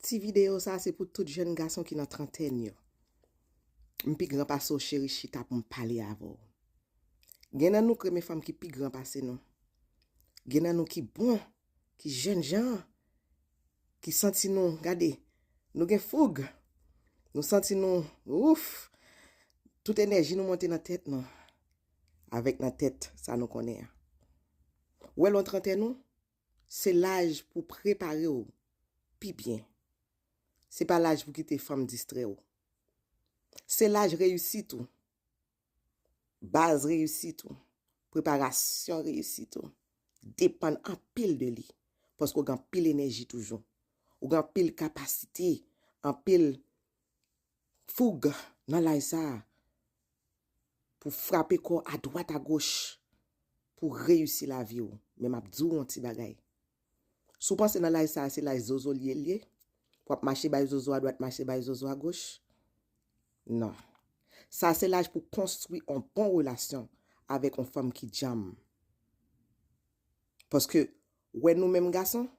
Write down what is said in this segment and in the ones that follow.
Ti video sa se pou tout jèn gason ki nan trantèn yo. M pi gran pase w cheri chita pou m pale avè w. Gen nan nou k renmen fanm ki pi gran pase nou. Gen nan nou ki bon, ki jèn jan, ki santi nou, gade, nou gen foug, nou santi nou, ouff, tout enèji nou monte nan tèt nou, avèk nan tèt sa nou konnen an. Ou wè lon trantèn ou, Se laj pou prepare w pi byen. Se pa laj pou kite fanm distrè w. Se laj reyisit ou, baz reyisit ou, preparasyon reyisit ou depann anpil de li paske w gen anpil enèji toujou. Ou gen anpil kapasite, anpil foug nan laj sa a. pou frape kò a dwat a goch pou reyisi lavi w men m ap di w yon ti bagay si w panse nan laj sa a se laj zozo li ye l ye pou w ap mache bay zozo a dwat mache bay zozo a goch nan sa a se laj pou w konstwi yon bon relasyon avèk yon fanm ki djanm paske wè nou menm gason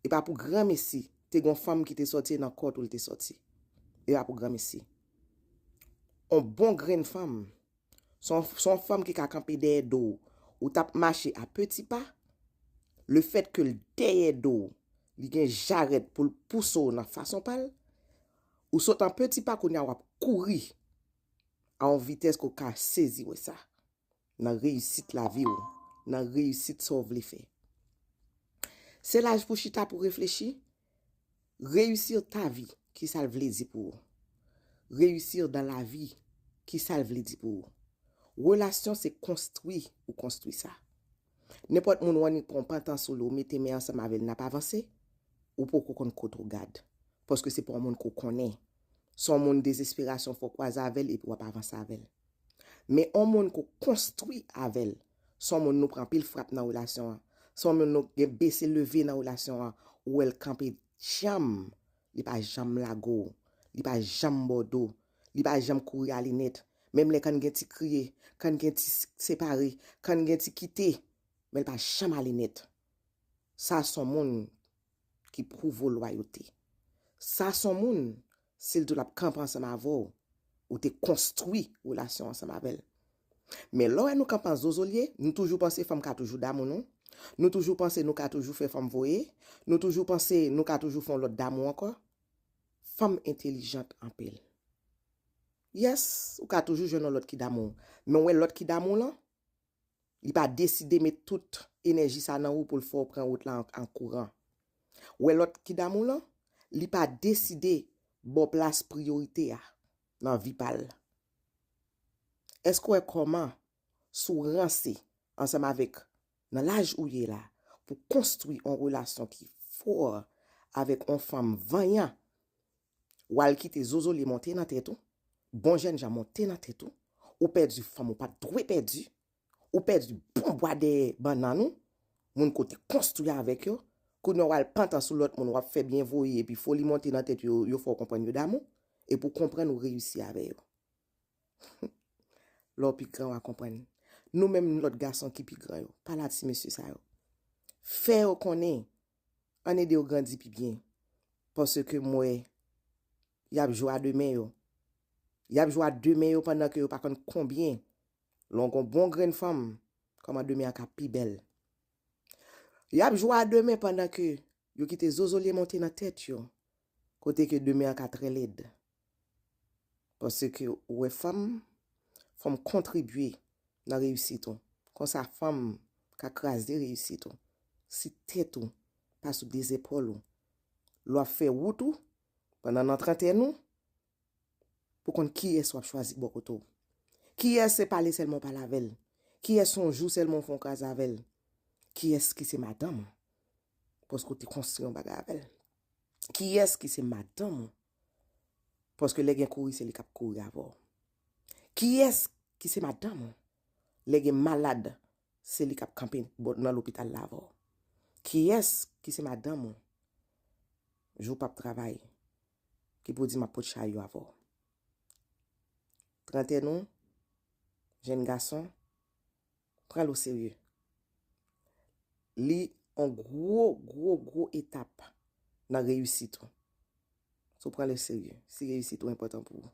E pa pou granmesi te gon fanm ki te soti e nan kò tou l te soti. E pa pou granmesi. On bon grenn fanm, se on fanm ki ka kanpe dèyè do ou. Ou t ap mache a peti pa, le fèt ke l dèyè do ou, li gen jarèt pou l pouse ou nan fason pa l, ou sot an peti pa kounye a w ap kouri a on vitès ke w ka sezi wè sa. nan reyisit lavi w, nan reyisit sa w vle fè. Se laj pou chita pou reflechi, reyisir ta vi, ki sa l vle di pou ou? Reyisir dan la vi, ki sa l vle di pou ou? Relasyon se konstwi ou konstwi sa. Nenpòt moun w annik pran w pantan sou li w mete men ansanm avè l n ap avanse, ou poko konn kot ou gad. Paske se pa w moun ke w konnen. Se w moun dezesperasyon fò w kwaze avè l epi w ap avanse avè l. Men on moun ke w konstwi avè l, se on moun nou pran anpil frap nan relasyon an, se on moun nou gen bese leve nan relasyon an, ou wè l kanpe djanm, li pa janm lage w, li pa janm ba w do, li pa janm kouri ale nèt, menm lè kann gen ti kriye, kann gen ti separe, kann gen ti kite, men l pa janm ale nèt. Sa se on moun. ki pwouve w lwayote. Sa s on moun, si l di w l ap kanpe ansanm avè w, ou te konstwi relasyon w ansanm avè l. Men lè w wè nou kanpe an zozolye, nou toujou panse fanm ka toujou damou nou, nou toujou panse nou ka toujou fè fanm voye, nou toujou panse nou ka toujou fè yon lòt damou ankò. Fanm entelijant anpil. Yes, ou ka toujou jwenn yon lòt ki damou w. Men w wè lòt ki damou w lan? Li pa deside met tout enèji sa nan ou pou l fè w pran wout la an kouran. Wè lòt ki damou lan, li pa deside ba w plas priyorite a nan vi pa l. Èske w wè kòman si w ranse ansanm avèk nan laj ou ye la pou konstwi yon relasyon ki fò avèk yon fanm vanyan Wal kite zozoli monte nan tèt ou, bon jènjan monte nan tèt ou, ou pèdi fanm ou pat dwe pèdi, ou pèdi bon bwa dèyè bannann ou, moun ke w te konstwi avèk yo, kounye a wal pantan sou lòt moun wap fè byen voye epi foli monte nan tèt yo, yo fè w konprann yo damou, epi w konprann ou reyisi avè yo. Lè w pi gran wa konprann. Nou menm lòt gason ki pi gran yo, pale a ti mesye sa yo. Fè yo konnen Ann ede yo grandi pi byen. Paske m wè y ap jwa de men yo. Y ap jwa de men yo pandan ke yo pa konn konbyen lè w gon bon grenn fanm kòman de men an ka pi bèl. Y ap jwa de men pandan ke yo kite zozolye monte nan tèt yo kote ke de men an ka trè lèd. Panse ke ou wè fanm, fanm kontribye nan reyisit ou. Konsa fanm ka kraze reyisit ou. Si tèt ou pa sou de zepòl ou, lè w ap fè wout ou, pandan nan trantèn ou, pou konn kiyès w ap chwazi bò kote w. Kiyès se pale sèlman w pale avè l. Kiyès se yon jou sèlman w fè yon kras avè l. Kiyès ki se madanm ou, paske w te konstwi yon bagay avè l. Kiyès ki se madanm ou, Paske lè gen kouri se li kap kouri avè w. Kiyès ki se madanm ou? Lè gen malad se li kap kanpe nan lopital la avè w. Kiyès ki se madanm ou? Jou pap travay ki pou di map pot chay yo avè w. Trantèn ou, jenn gason, pranl o serye. Li on gwo gwo gwo etap nan reyisit ou. Si w pranl o serye, si reyisit ou enpòtan pou ou.